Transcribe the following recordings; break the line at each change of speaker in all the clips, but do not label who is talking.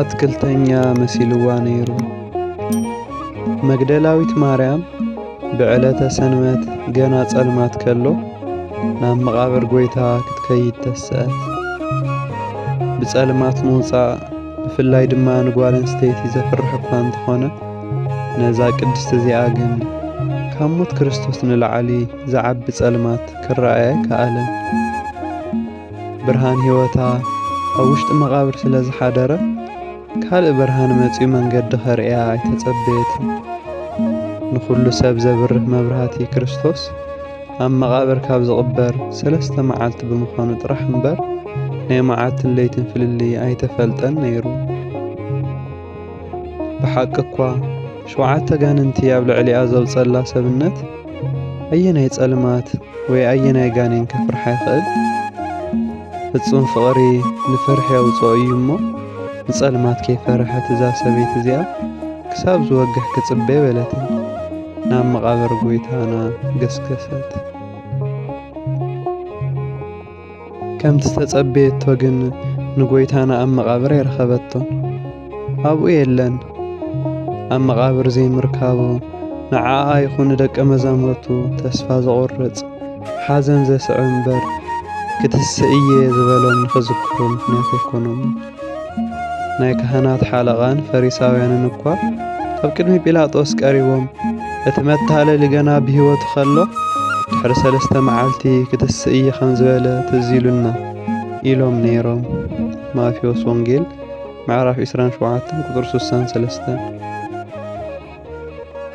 ኣትክልተኛ መሲልዋ ነይሩ። መግደላዊት ማርያም ብዕለተ ሰንበት ገና ጸልማት ከሎ ናብ መቓብር ጐይታ ክትከይድ ተስኣት። ብጸልማት ምውጻእ ብፍላይ ድማ ንጓል ኣንስተይቲ ዘፍርሕ እኳ እንተኾነ ነዛ ቅድስቲ እዚኣ ግን ካብ ሞት ክርስቶስ ንላዕሊ ዝዓቢ ጸልማት ክረኣያ ኣይከኣለን። ብርሃን ህይወታ ኣብ ውሽጢ መቓብር ስለ ዝሓደረ ካልእ ብርሃን መጺኡ መንገዲ ከርእያ ኣይተጸበየትን። ንዅሉ ሰብ ዘብርህ መብራህቲ ክርስቶስ ኣብ መቓብር ካብ ዝቕበር ሰለስተ መዓልቲ ብምዃኑ ጥራሕ እምበር ናይ መዓልትን ለይትን ፍልልይ ኣይተፈልጠን ነይሩ። ብሓቂ እኳ ሸውዓተ ጋንንቲ ኣብ ልዕሊኣ ዘውጸላ ሰብነት ኣየናይ ጸልማት ወይ ኣየናይ ጋኔን ከፍርሓ ይኽእል? ፍጹም ፍቕሪ ንፍርሒ የውጽኦ እዩ እሞ ንጸልማት ከይፈርሐት እዛ ሰበይቲ እዚኣ ክሳብ ዝወግሕ ክጽበ በለትን ናብ መቓብር ጎይታና ገስገሰት። ከምቲ ዝተጸበየቶ ግን ንጎይታና ኣብ መቓብር ኣይረኸበቶ ኣብኡ የለን ኣብ መቓብር ዘይምርካቡ ንዓኣ ይኹን ንደቀ መዛሙርቱ ተስፋ ዘቑርጽ ሓዘን ዘስዕብ እምበር ክትስእ እየ ዝበሎም ንኽዝክሩ ምኽንያት ኣይኮኖም። ናይ ካህናት ሓለቓን ፈሪሳውያንን እኳ ኣብ ቅድሚ ጲላጦስ ቀሪቦም እቲ መታለሊ ገና ብህይወቱ ከሎ ድሕሪ ሰለስተ መዓልቲ ክትስእ እየ ከም ዝበለ ትዝ ኢሉና ኢሎም ነይሮም ማቴዎስ ወንጌል ምዕራፍ 27 ቁፅሪ 63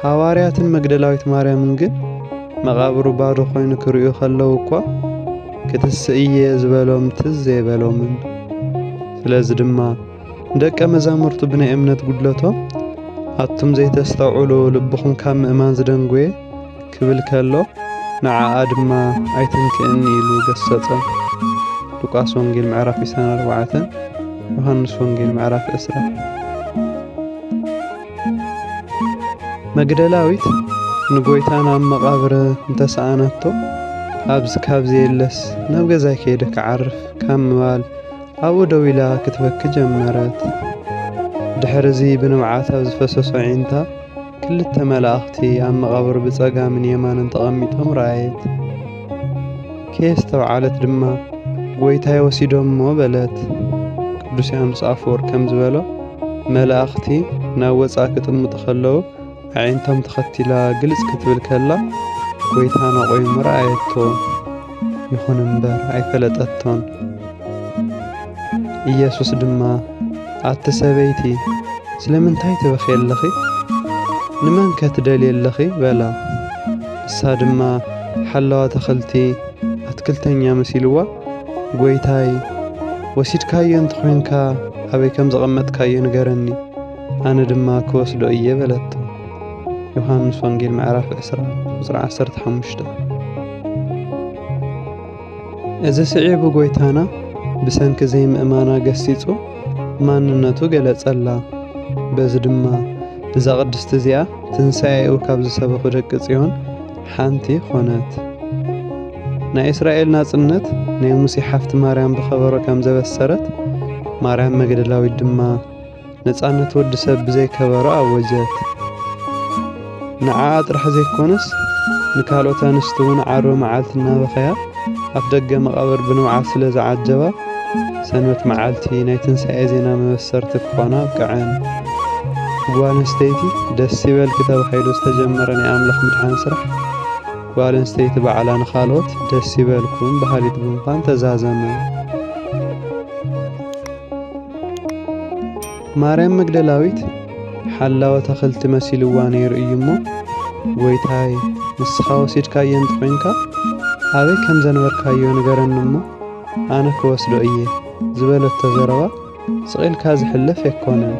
ሃዋርያትን መግደላዊት ማርያምን ግን መቓብሩ ባዶ ኮይኑ ክርእዩ ከለዉ እኳ ክትስእ እየ ዝበሎም ትዝ ዘይበሎምን። ስለዚ ድማ ንደቀ መዛሙርቱ ብናይ እምነት ጉድለቶም ኣቱም ዘይተስተውዕሉ ልብኹም ካብ ምእማን ዝደንጎየ ክብል ከሎ ንዓኣ ድማ ኣይትንክእኒ ኢሉ ገሰጸም። ሉቃስ ወንጌል ምዕራፍ 24 ዮሃንስ ወንጌል ምዕራፍ 20 መግደላዊት ንጎይታ ናብ መቓብር እንተሰኣነቶ ኣብዚ ካብ ዘየለስ ናብ ገዛይ ከይደ ክዓርፍ ካብ ምባል ኣብኡ ደው ኢላ ክትበኪ ጀመረት። ድሕሪ እዚ ብንብዓት ኣብ ዝፈሰሶ ዒንታ ክልተ መላእኽቲ ኣብ መቓብር ብጸጋምን የማንን ተቐሚጦም ረኣየት። ከየስተውዓለት ድማ ጐይታይ ወሲዶሞ በለት። ቅዱስ ዮሓንስ ኣፈወርቅ ከም ዝበሎ መላእኽቲ ናብ ወፃእ ክጥምጡ ከለዉ ኣዒንቶም ተኸቲላ ግልፅ ክትብል ከላ ጐይታና ቆይሙ ረኣየቶ። ይኹን እምበር ኣይፈለጠቶን። ኢየሱስ ድማ ኣቲ ሰበይቲ ስለምንታይ ትበኽየለኺ? ንመን ከትደልየለኺ? በላ። ንሳ ድማ ሓላው ኣታኽልቲ ኣትክልተኛ መሲልዋ ጐይታይ ወሲድካዮ እንተኾይንካ ኣበይ ከም ዘቐመጥካዮ ንገረኒ ኣነ ድማ ክወስዶ እየ በለቶ። ዮሃንስ ወንጌል ምዕራፍ ዕስራ ቁጽሪ ዓሰርተ ሓሙሽተ እዚ ስዒቡ ጐይታና ብሰንኪ ዘይምእማና ገሲጹ ማንነቱ ገለጸላ። በዚ ድማ እዛ ቅድስቲ እዚኣ ትንሣኤኡ ካብ ዝሰበኹ ደቂ ጽዮን ሓንቲ ዀነት። ናይ እስራኤል ናጽነት ናይ ሙሴ ሓፍቲ ማርያም ብኸበሮ ከም ዘበሰረት፣ ማርያም መግደላዊት ድማ ነጻነት ወዲ ሰብ ብዘይ ከበሮ ኣወጀት። ንዓኣ ጥራሕ ዘይኮነስ ንካልኦት ኣንስቲ እውን ዓርቢ መዓልቲ እናበኸያ ኣፍ ደገ መቓብር ብንብዓት ስለ ዝዓጀባ ሰንበት መዓልቲ ናይ ትንሳኤ ዜና መበሰርቲ ክኾና ኣብቅዐን። ጓል ኣንስተይቲ ደስ ይበልኪ ተባሂሉ ዝተጀመረ ናይ ኣምላኽ ምድሓን ስራሕ ጓል ኣንስተይቲ ባዕላ ንኻልኦት ደስ ይበልኩም በሃሊት ብምዃን ተዛዘመ። ማርያም መግደላዊት ሓላወ ተኽልቲ መሲልዋ ነይሩ እዩ እሞ ጐይታይ ንስኻ ወሲድካዮ እንተኾይንካ ኣበይ ከም ዘንበርካዮ ንገረኒ እሞ ኣነ ክወስዶ እየ ዝበለቶ ዘረባ ስቒልካ ዝሕለፍ ኣይኮነን።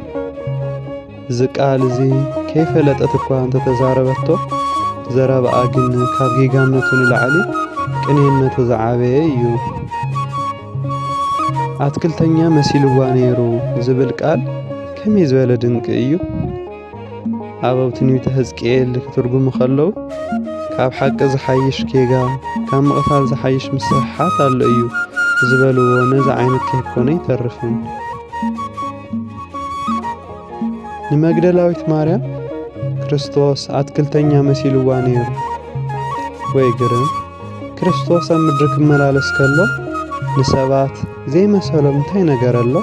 እዚ ቃል እዚ ከይፈለጠት እኳ እንተተዛረበቶ ዘረባኣ ግን ካብ ጌጋነቱ ንላዕሊ ቅንየነቱ ዝዓበየ እዩ። ኣትክልተኛ መሲልዋ ነይሩ ዝብል ቃል ከመይ ዝበለ ድንቂ እዩ! ኣበው ትንቢተ ሕዝቅኤል ክትርጉሙ ከለዉ ካብ ሓቂ ዝሓይሽ ጌጋ ካብ ምቕታል ዝሓይሽ ምስሕሓት ኣሎ እዩ ዝበልዎ ነዚ ዓይነት ከይኮነ ይተርፍን ንመግደላዊት ማርያም ክርስቶስ ኣትክልተኛ መሲልዋ ነይሩ ወይ ግርም ክርስቶስ ኣብ ምድሪ ክመላለስ ከሎ ንሰባት ዘይመሰሎም እንታይ ነገር ኣሎ?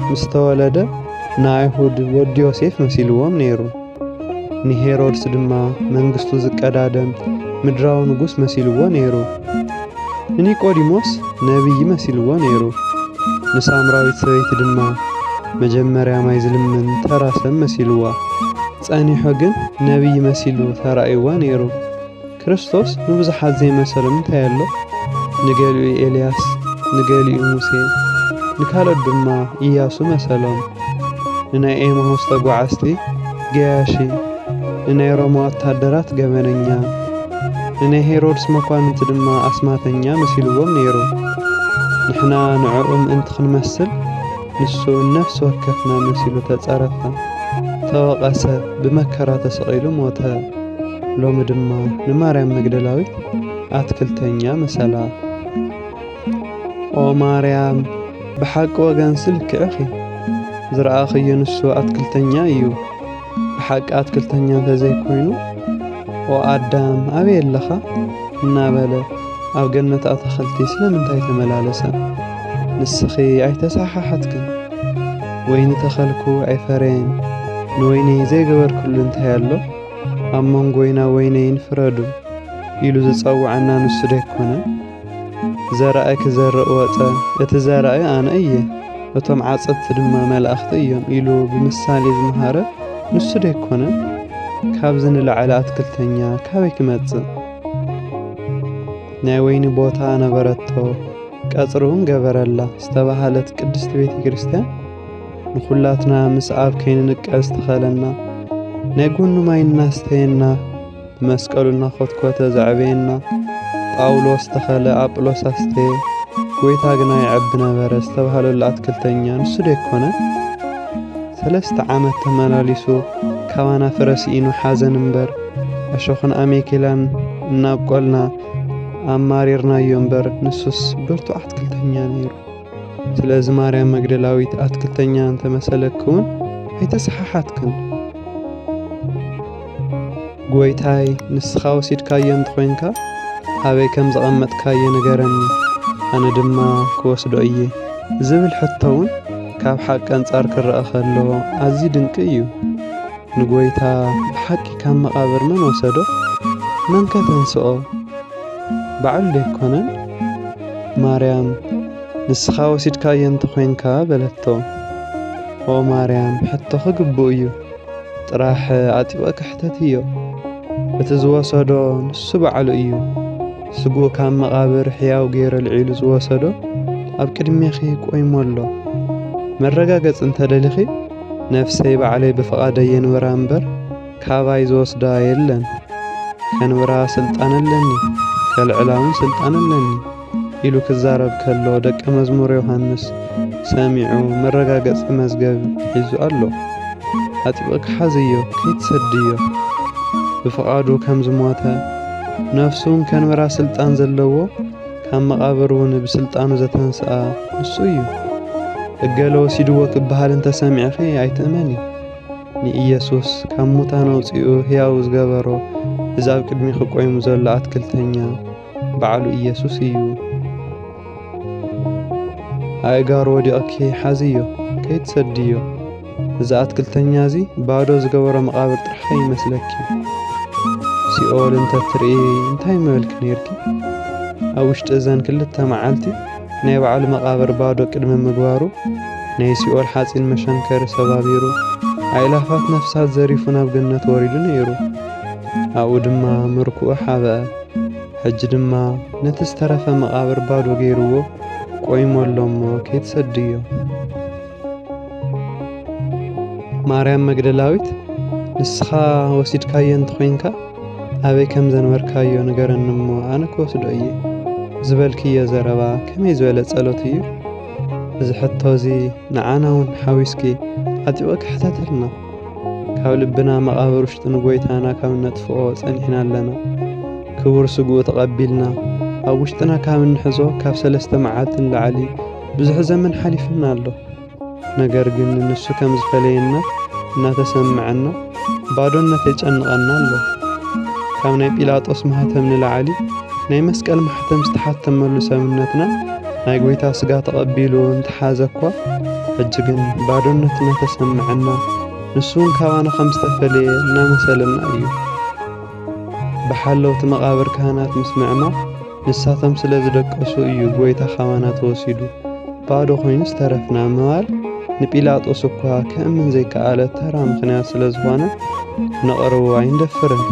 ምስ ተወለደ ንኣይሁድ ወዲ ዮሴፍ መሲልዎም ነይሩ። ንሄሮድስ ድማ መንግስቱ ዝቀዳደም ምድራዊ ንጉስ መሲልዎ ነይሩ። ንኒቆዲሞስ ነቢይ መሲልዎ ነይሩ። ንሳምራዊት ሰበይቲ ድማ መጀመርያ ማይ ዝልምን ተራ ሰብ መሲልዋ። ጸኒሑ ግን ነቢይ መሲሉ ተራእይዋ ነይሩ። ክርስቶስ ንብዙሓት ዘይመሰሎም እንታይ ኣሎ? ንገሊኡ ኤልያስ፣ ንገሊኡ ሙሴ፣ ንካልኦት ድማ ኢያሱ መሰሎም። ንናይ ኤማሁስ ተጓዓዝቲ ገያሺ፣ ንናይ ሮማ ወተሃደራት ገበነኛ፣ ንናይ ሄሮድስ መኳንንቲ ድማ ኣስማተኛ መሲልዎም ነይሩ። ንሕና ንዕኡ ምእንቲ ክንመስል፣ ንሱ ነፍሲ ወከፍና መሲሉ ተጸረፈ፣ ተወቐሰ፣ ብመከራ ተሰቒሉ ሞተ። ሎሚ ድማ ንማርያም መግደላዊት ኣትክልተኛ መሰላ። ኦ ማርያም ብሓቂ ወገንሲ ልክዕኺ፣ ዝረኣኽዮ ንሱ ኣትክልተኛ እዩ። ብሓቂ ኣትክልተኛ እንተዘይኮይኑ ኦ ኣዳም ኣበይ ኣለኻ እናበለ ኣብ ገነት ኣታኽልቲ ስለምንታይ ተመላለሰ? ንስኺ ኣይተሰሓሓትክን፣ ወይኒ ተኸልኩ ኣይፈረየን፣ ንወይኒ ዘይገበርክሉ እንታይ ኣሎ? ኣብ መንጎይና ወይነይን ፍረዱ ኢሉ ዝጸውዐና ንሱ ደይኮነን? ዘራእይ ክዘርእ ወጸ፣ እቲ ዘራእይ ኣነ እየ፣ እቶም ዓጸድቲ ድማ መላእኽቲ እዮም ኢሉ ብምሳሌ ዝመሃረ ንሱ ደይኮነን? ካብዚ ንላዕሊ ኣትክልተኛ ካበይ ክመጽእ? ናይ ወይኒ ቦታ ነበረቶ፣ ቀጽሪ እውን ገበረላ ዝተባህለት ቅድስቲ ቤተ ክርስቲያን ንኹላትና ምስ ኣብ ከይንንቀል ዝተኸለና ናይ ጎኑ ማይ እናስተየና ብመስቀሉ እናኾትኮተ ዘዕበየና ጳውሎስ ተኸለ ኣጵሎስ ኣስተየ ጎይታ ግና ይዐቢ ነበረ ዝተባህለሉ ኣትክልተኛ ንሱ ዶ ኣይኮነ? ሰለስተ ዓመት ተመላሊሱ ካባና ፍረ ስኢኑ ሓዘን እምበር እሾኽን ኣሜኬላን እናብቆልና ኣማሪርናዮ እምበር ንሱስ ብርቱዕ ኣትክልተኛ ነይሩ። ስለዚ ማርያም መግደላዊት ኣትክልተኛ እንተመሰለክውን ኣይተሰሓሓትክን። ጎይታይ ንስኻ ወሲድካዮ እንተኾይንካ ኣበይ ከም ዘቐመጥካዮ ንገረኒ፣ ኣነ ድማ ክወስዶ እየ ዝብል ሕቶ እውን ካብ ሓቂ ኣንጻር ክረኣ ከሎ ኣዝዩ ድንቂ እዩ። ንጎይታ ብሓቂ ካብ መቓብር መን ወሰዶ? መንከ ተንስኦ? በዓል ደይኮነን? ማርያም ንስኻ ወሲድካዮ እንተ ዄንካ በለቶ። ኦ ማርያም ሕቶኺ ግቡእ'ዩ፣ ጥራሕ ኣጥቢቕኪ ሕተትዮ። እቲ ዝወሰዶ ንሱ በዓሉ እዩ፣ ስግኡ ካብ መቓብር ሕያው ገይሩ ኣልዒሉ ዝወሰዶ ኣብ ቅድሜኺ ቆይሙ ኣሎ። መረጋገጺ እንተ ደሊኺ ነፍሰይ ባዕለይ ብፍቓደይ የንብራ እምበር፣ ካባይ ዝወስዳ የለን ከንብራ ስልጣን ኣለኒ ከልዕላውን ስልጣን ኣለኒ ኢሉ ክዛረብ ከሎ ደቀ መዝሙር ዮሐንስ ሰሚዑ መረጋገጺ መዝገብ ሒዙ ኣሎ። ኣጥብቕ ክሓዝዮ ከይትሰድዮ ብፍቓዱ ከም ዝሞተ ነፍሱን ከንብራ ስልጣን ዘለዎ ካብ መቓብር እውን ብስልጣኑ ዘተንስኣ ንሱ እዩ። እገለ ወሲድዎ ክበሃል እንተሰሚዕኺ ኣይትእመኒ። ንኢየሱስ ካብ ሙታን ኣውፂኡ ሕያው ዝገበሮ እዚ ኣብ ቅድሚኺ ቆይሙ ዘሎ ኣትክልተኛ በዓሉ ኢየሱስ እዩ። ኣእጋሩ ወዲቕኪ ሓዝዮ፣ ከይትሰድዮ። እዚ ኣትክልተኛ እዚ ባዶ ዝገበሮ መቓብር ጥራሕ ከይመስለኪ። ሲኦል እንተትርኢ እንታይ ምበልኪ ነይርኪ? ኣብ ውሽጢ እዘን ክልተ መዓልቲ ናይ ባዕሉ መቓብር ባዶ ቅድሚ ምግባሩ ናይ ሲኦል ሓጺን መሸንከሪ ሰባቢሩ ኣእላፋት ነፍሳት ዘሪፉ ናብ ገነት ወሪዱ ነይሩ። ኣብኡ ድማ ምርኩኡ ሓበአ። ሕጂ ድማ ነቲ ዝተረፈ መቓብር ባዶ ገይርዎ ቆይሙ ኣሎ እሞ ከይትሰድዮ። ማርያም መግደላዊት ንስኻ ወሲድካዮ እንተኾይንካ ኣበይ ከም ዘንበርካዮ ንገረኒ እሞ ኣነ ክወስዶ እየ ዝበልክዮ ዘረባ ከመይ ዝበለ ጸሎት እዩ እዚ ሕቶ እዚ ንዓና እውን ሓዊስኪ ዓጢቑ ክሕተተልና ካብ ልብና መቓብር ውሽጢ ንጐይታና ካብ እነጥፍኦ ጸኒሕና ኣለና ክቡር ስግኡ ተቐቢልና ኣብ ውሽጥና ካብ እንሕዞ ካብ ሰለስተ መዓልቲ ንላዕሊ ብዙሕ ዘመን ሓሊፍና ኣሎ ነገር ግን ንሱ ከም ዝፈለየና እናተሰምዐና ባዶነት የጨንቐና ኣሎ። ካብ ናይ ጲላጦስ ማህተም ንላዕሊ ናይ መስቀል ማሕተም ዝተሓተመሉ ሰብነትና ናይ ጐይታ ስጋ ተቐቢሉ እንተሓዘ እኳ ሕጂ ግን ባዶነት እናተሰምዐና ንሱ እውን ካባና ከም ዝተፈለየ እናመሰለና እዩ። ብሓለውቲ መቓብር ካህናት ምስ ምዕማ ንሳቶም ስለ ዝደቀሱ እዩ ጐይታ ኻባና ተወሲዱ ባዶ ዀይኑ ዝተረፍና ምባል ንጲላጦስ እኳ ክእምን ዘይከኣለ ተራ ምኽንያት ስለ ዝኾነ ነቕርቦ ኣይንደፍርን።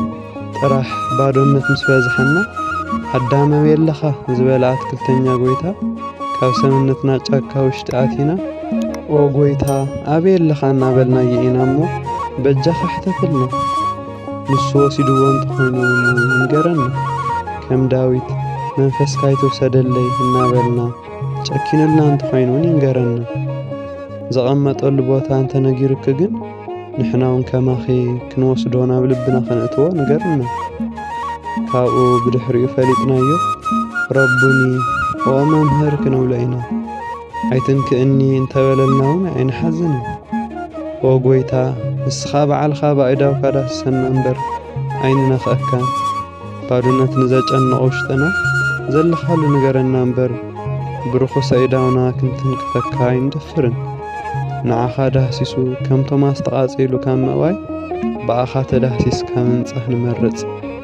ጥራሕ ባዶነት ምስ በዝሐና ኣዳም ኣበየለኻ ዝበለ ኣትክልተኛ ጐይታ ካብ ሰብነትና ጫካ ውሽጢ ኣቲና ኦ ጐይታ ኣበየለኻ እናበልናዮ ኢና እሞ በጃኻ ሕተትልና። ንሱ ወሲድዎ እንተኾይኑ እውን ይንገረና። ከም ዳዊት መንፈስካ ይትውሰደለይ እናበልና ጨኪኑልና እንተኾይኑ እውን ይንገረና። ዘቐመጠሉ ቦታ እንተነጊሩኪ ግን ንሕና እውን ከማኺ ክንወስዶ ናብ ልብና ከነእትዎ ንገርና። ካብኡ ብድሕሪኡ ፈሊጥናዮ ረቡኒ ኦ መምህር ክንብሎ ኢና። ኣይትንክእኒ እንተበለልና እውን ኣይንሓዝንን። ኦ ጐይታ፣ ንስኻ ባዕልኻ ብኣእዳውካ ዳስሰና እምበር፣ ኣይንነኽኣካን። ባዶነት ንዘጨንቕ ውሽጥና፣ ዘለኻሉ ንገረና እምበር፣ ብርኹስ ኣእዳውና ክንትንክፈካ ኣይንደፍርን። ንዓኻ ዳህሲሱ ከም ቶማስ ተቓጺሉ ካብ ምእዋይ፣ ብኣኻ ተዳህሲስካ ምንጻህ ንመርጽ።